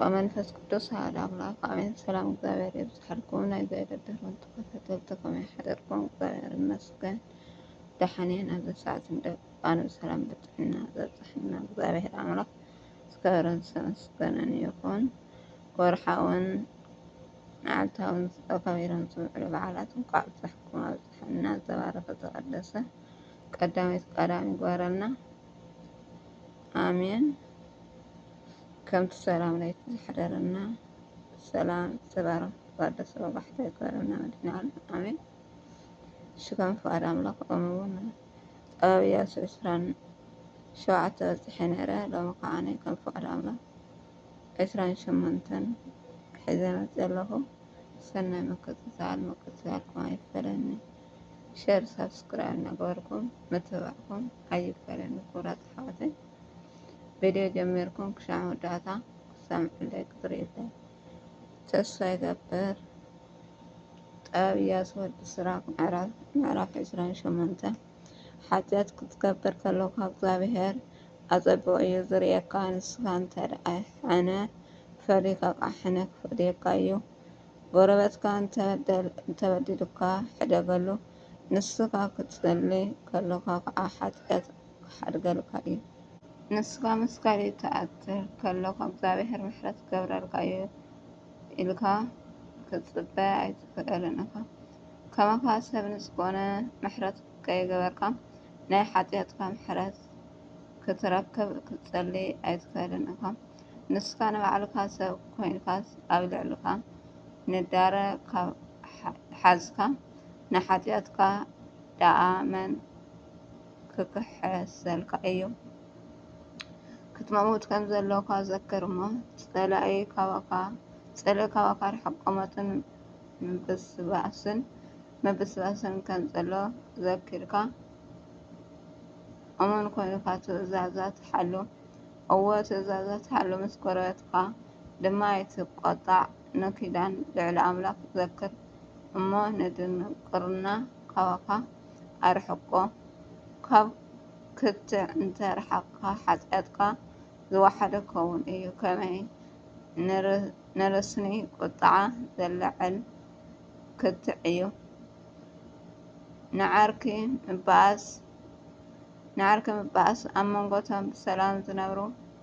ወመንፈስ ቅዱስ ኣሐድ ኣምላክ ኣሜን። ሰላም እግዚኣብሔር ይብዝሓልኩም ናይ ዘየለ ድሮን ተኸታተልቲ ከመይ ሓደርኩም? እግዚኣብሔር ይመስገን ደሓን እየ። ናብዚ ሰዓት እንደቃኑ ሰላም ብጥዕና ዘብፅሐና እግዚኣብሔር ኣምላክ ዝከበረን ዝተመስገነን ይኹን። ወርሓውን መዓልታውን ተኸቢሮም ዝውዕሉ በዓላት እንኳዕ ኣብፀሐኩም ኣብፀሐና። ዝተባረከ ዝተቀደሰ ቀዳሚት ቀዳሚ ይግበረልና። ኣሜን። ከምቲ ሰላም ለይቲ ዝሓደረና ሰላም ዝተባረኽ ባዶ ሰባባሕታ ይግበረና መድሕን ዓለም ኣሜን። ሽጋን ፍቃድ ኣምላኽ ኦም እውን ኣብ ኢያሱ ዕስራን ሸውዓተ በፂሐ ነይረ ሎሚ ከዓ ከም ፍቃድ ኣምላኽ ዕስራን ሸሞንተን ሒዘ መፅ ዘለኹ ሰናይ ምክትታል ምክትታልኩም ኣይፈለኒ ሸር ሳብስክራይብ እናገበርኩም ምትብባዕኩም ኣይፈለኒ ክቡራት ኣሕዋተይ ቪድዮ ጀሚርኩም ክሻዕ መወዳእታ ክትሰምዕለይ ክትሪኡለይ ተስፋ ይገብር። ጠብያስ ወዲ ስራክ ምዕራፍ ዕስራን ሸሞንተን ሓጢኣት ክትገብር ከለካ እግዚኣብሄር ኣጸቢቑ እዩ ዝርእየካ ንስካ እንተ ደኣ ሕነ ፈሊካ ከዓ ሕነ ክፈድየካ እዩ ጎረበትካ እንተበዲሉካ ሕደገሉ ንስካ ክትጸሊ ከለካ ከዓ ሓጢኣት ክሓድገልካ እዩ። ንስኻ ምስ ካልእ ትኣትር ከሎኻ እግዚኣብሔር ምሕረት ክገብረልካ እዩ ኢልካ ክትጽበ ኣይትክእልን ኢኻ። ከማኻ ሰብ ንዝኾነ ምሕረት ከይገበርካ ናይ ሓጥያትካ ምሕረት ክትረክብ ክትጸሊ ኣይትክእልን ኢኻ። ንስኻ ንባዕልካ ሰብ ኮይንካስ ኣብ ልዕልኻ ንዳረ ካብ ሓዝካ ንሓጥያትካ ደኣ መን ክኽሕሰልካ እዩ። ክትመውት ከም ዘሎካ ዘክር እሞ፣ ጸላኢ ካባካ ጸልኢ ካባካ ርሕቆ ሞትን ምብስባስን ምብስባስን ከም ዘሎ ዘኪርካ እሙን ኮይንካ ትእዛዛት ሓሉ። እወ ትእዛዛት ሓሉ፣ ምስ ጎረቤትካ ድማ ኣይትቆጣዕ። ንኪዳን ልዑል ኣምላኽ ዘክር እሞ፣ ንድንቁርና ካባካ ኣርሕቆ። ካብ ክትዕ እንተ ረሓቕካ ሓጢኣትካ ዝወሓደ ክኸውን እዩ። ከመይ ንርስኒ ቍጥዓ ዜለዓዕል ክትዕ እዩ! ንዓርኪ ምበኣስ ኣብ መንጎ እቶም ብሰላም ዚነብሩ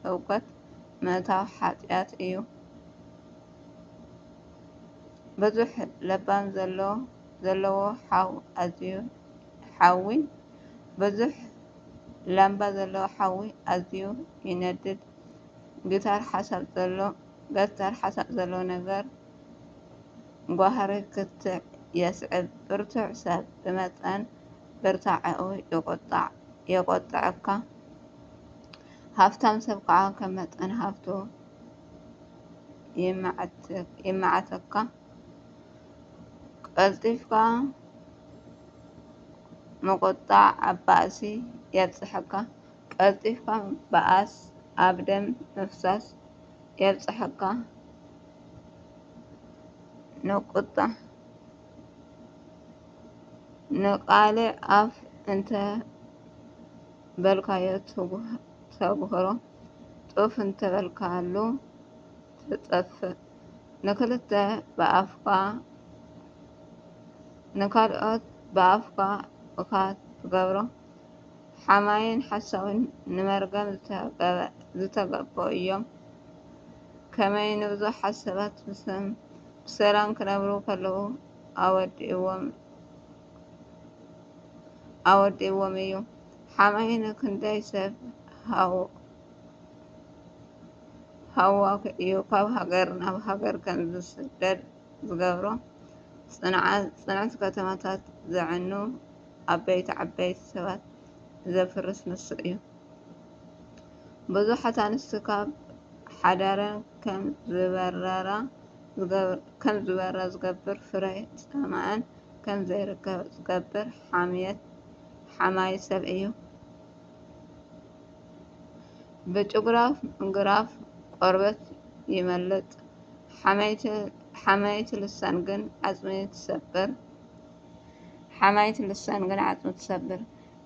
ህውከት ምእታው ሓጢኣት እዩ። ብዙሕ ለባም ዘለዎ ዘለዎ ሓው ኣዝዩ ሓዊ ብዙሕ ላምባ ዘለዎ ሓዊ ኣዝዩ ይነድድ ግታር ሓሳብ ዘሎ ገታር ሓሳብ ዘለዎ ነገር ጓህሪ ክትዕ የስዕብ ብርቱዕ ሰብ ብመጠን ብርታዐኡ ይቁጣዕ የቆጥዐካ ሃፍታም ሰብ ከዓ ከም መጠን ሃፍቱ ይመዓተካ። ቀልጢፍካ ምቁጣዕ ኣብ ባእሲ የብፅሐካ ቀልጢፍካ ምብኣስ ኣብ ደም ምፍሳስ የብፅሐካ ንቁጣ ንቃልዕ ኣፍ እንተበልካዮ ተጉህሮ ጡፍ እንተበልካሉ ትጠፍእ ንክልተ ብኣፍካ ንካልኦት ብኣፍካ እካ ትገብሮ ሓማይን ሓሳዊን ንመርገም ዝተገበኡ እዮም ከመይ ንብዙሓት ሰባት ብሰም ብሰላም ክነብሩ ከለዉ ኣወዲእዎም ኣወዲእዎም እዩ ሓማይ ንክንደይ ሰብ ሃው ሃዋኽ እዩ ካብ ሃገር ናብ ሃገር ከም ዝስደድ ዝገብሮ። ጽንዕቲ ከተማታት ዘዕኑ ዓበይቲ ዓበይቲ ሰባት ዘፍርስ ንሱ እዩ። ብዙሓት ኣንስቲ ካብ ሓዳረን ከም ዝበራ ዝገብር ፍረ ጻማኣን ከም ዘይርከብ ዝገብር ሓማዪ ሰብ እዩ። ብጭጉራፍ ቆርበት ይመልጥ፣ ሓማዪት ልሳን ግን ዓጽሚ ትሰብር።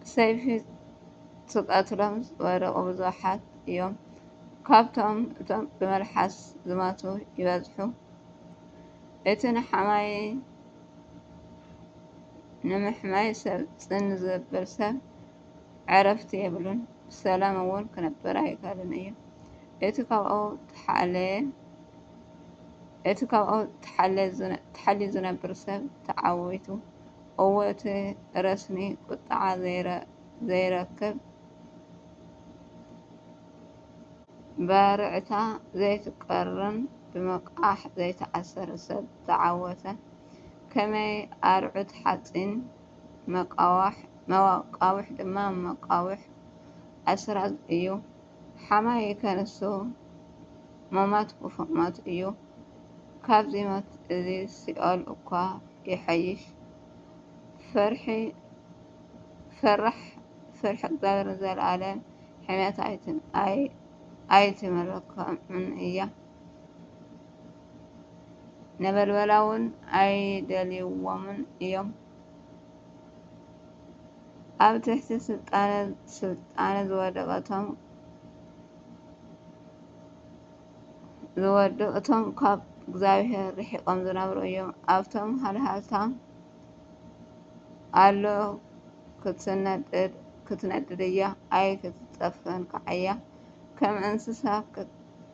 ብሰይፊ ትቐትሎም ዝወደቑ ብዙሓት እዮም፣ ካብኣቶም እቶም ብመልሓስ ዝሞቱ ይበዝሑ። እቲ ንሓማዪ ንምሕማይ ሰብ ጽን ዘብል ሰብ፣ ዕረፍቲ የብሉን፣ ብሰላም እውን ክነብር ኣይክእልን እዩ። እቲ ካብኡ ተሓልዩ ዝነብር ሰብ ተዓዊቱ፣ እወ እቲ ረስኒ ቁጥዓ ዘይረክብ፣ ባርዕታ ዘይትቀርን ብመቃሕ ዘይትኣሰር ሰብ ተዓወተ። ከመይ ኣርዑት ሓጺን! መቃውሕ ድማ መቃውሕ ኣስራት እዩ። ሓማም ይከንሱ ሞማት ክፉእ ሞት እዩ። ካብዚ ሞት እዚ ሲኦል እኳ ይሓይሽ። ፈርሒ ፈራሕ ፍርሒ እግዚኣብሔር ንዘለዓለም ሕሜታ ኣይትምረኮምን እያ። ነበልበላውን ኣይደልይዎምን እዮም። ኣብ ትሕቲ ስልጣነ ዝወደቐ እቶም ዝወዱ እቶም ካብ እግዚኣብሔር ርሒቖም ዝነብሩ እዮም። ኣብቶም ሃልሃልታ ኣሎ ክትነድድ ክትነድድ እያ ኣይክትጠፍእን ከዓ እያ ከም እንስሳ